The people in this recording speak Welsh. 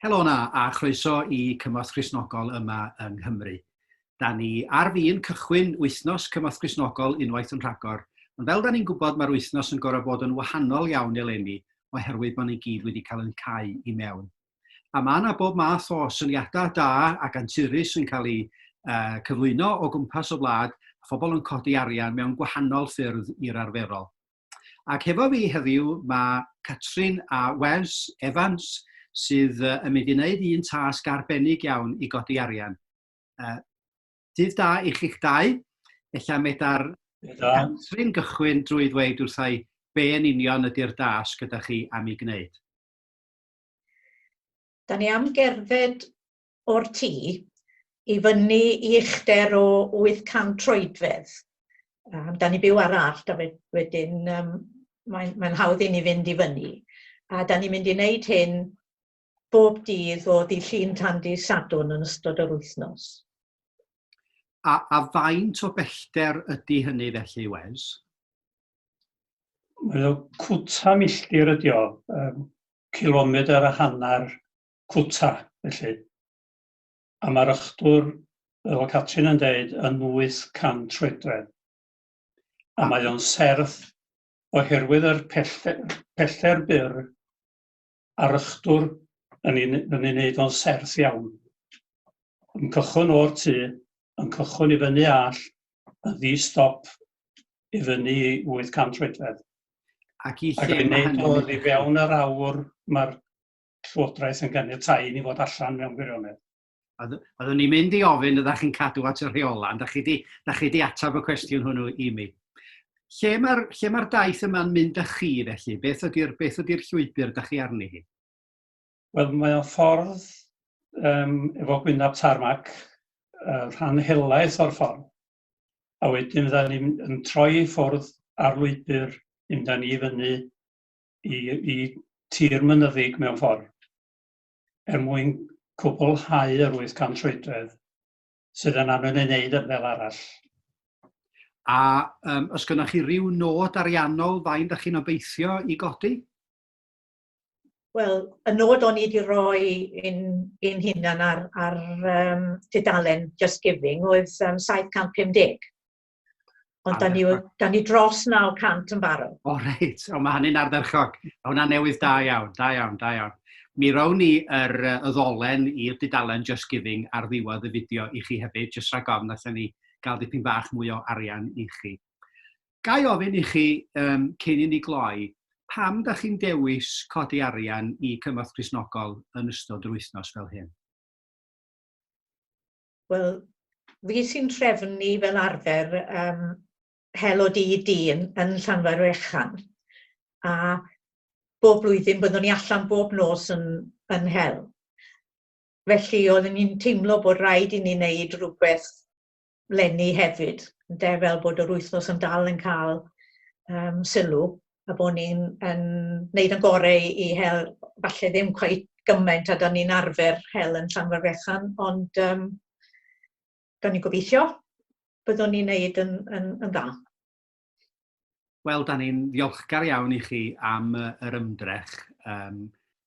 Helo na, a chroeso i Cymorth Christnogol yma yng Nghymru. Da ni ar fin cychwyn wythnos Cymorth Christnogol unwaith yn rhagor, ond fel da ni'n gwybod mae'r wythnos yn gorau bod yn wahanol iawn eleni oherwydd bod ni gyd wedi cael yn cau i mewn. A mae yna bob math o syniadau da ac anturus yn cael eu cyflwyno o gwmpas y wlad, a phobl yn codi arian mewn gwahanol ffyrdd i'r arferol. Ac hefo fi heddiw mae Catrin a Wes Evans sydd yn mynd i wneud un tasg arbennig iawn i godi arian. Uh, dydd da i chi'ch dau, ella medar Catrin gychwyn drwy ddweud wrthau be yn union ydy'r dasg gyda chi am ei gwneud. Da ni am gerdded o'r tŷ i fyny i uchder o 800 troedfedd. Um, da ni byw ar allt a wedyn um, mae'n mae hawdd i ni fynd i fyny. A da ni'n mynd i wneud hyn bob dydd o ddi llun tan di sadwn yn ystod yr wythnos. A, a faint o bellter ydy hynny felly, Wes? Mae o cwta milltir ydi o, yym cilomedr a hannar cwta felly, a ma'r ychdwr fel o'dd Catrin yn deud yn wyth can troedfedd, a mae o'n serth oherwydd yr pellter pellter byr a'r ychdwr yn ei yn ei wneud o'n serth iawn. Yn cychwyn o'r tu, yn cychwyn i fyny all, yn ddi-stop i fyny i 800 troedfedd. Ac i lle mae hynny'n mynd? Ac i fewn yr awr mae'r Llywodraeth yn ganiatáu i ni fod allan mewn gwirionedd. Oeddwn i'n mynd i ofyn ydych chi'n cadw at y rheolau, ond da chi wedi ateb y cwestiwn hwnnw i mi. Lle mae'r ma daith yma'n mynd â chi felly? Beth ydy'r ydy llwybr da chi arni hi? Wel, mae o'n ffordd um, efo gwynaf tarmac, uh, rhan helaeth o'r ffordd. A wedyn fydda ni'n troi i ffwrdd ar lwybr, mynd â ni fyny i, i tir mynyddig mewn ffordd. er mwyn cwblhau yr 800 troedfedd sydd yn angen ei wneud fel arall. A um, os gynnwch chi rhyw nod ariannol fain da chi'n obeithio i godi? Wel, y nod o'n i wedi rhoi i'n, in hunan ar, ar um, tudalen Just Giving oedd um, 750. Ond da ni, da ni dros 900 yn barod. O reit, o mae hynny'n ardderchog. Mae hwnna'n newydd da iawn, da iawn, da iawn. Mi rown ni yr y ddolen i'r dudalen Just Giving ar ddiwedd y fideo i chi hefyd, jyst rhag ofn allan ni gael dipyn bach mwy o arian i chi. Gai ofyn i chi, um, cyn i ni gloi, pam da chi'n dewis codi arian i Cymorth Crisnogol yn ystod yr wythnos fel hyn? Wel, fi sy'n trefnu fel arfer um, hel o dydd dyn yn Llanfair Fechan. A bob blwyddyn byddwn ni allan bob nos yn, yn hel. Felly oeddwn ni'n teimlo bod rhaid i ni wneud rhywbeth lenni hefyd, de, fel bod yr wythnos yn dal yn cael um, sylw. a bod ni'n yn wneud yn gorau i i hel falle ddim cweit gymaint a 'da ni'n arfer hel yn Llanfair Fechan, ond yym gawn ni gobeithio byddwn ni'n wneud yn yn yn dda. Wel, 'da ni'n ddiolchgar iawn i chi am yr ymdrech. Yym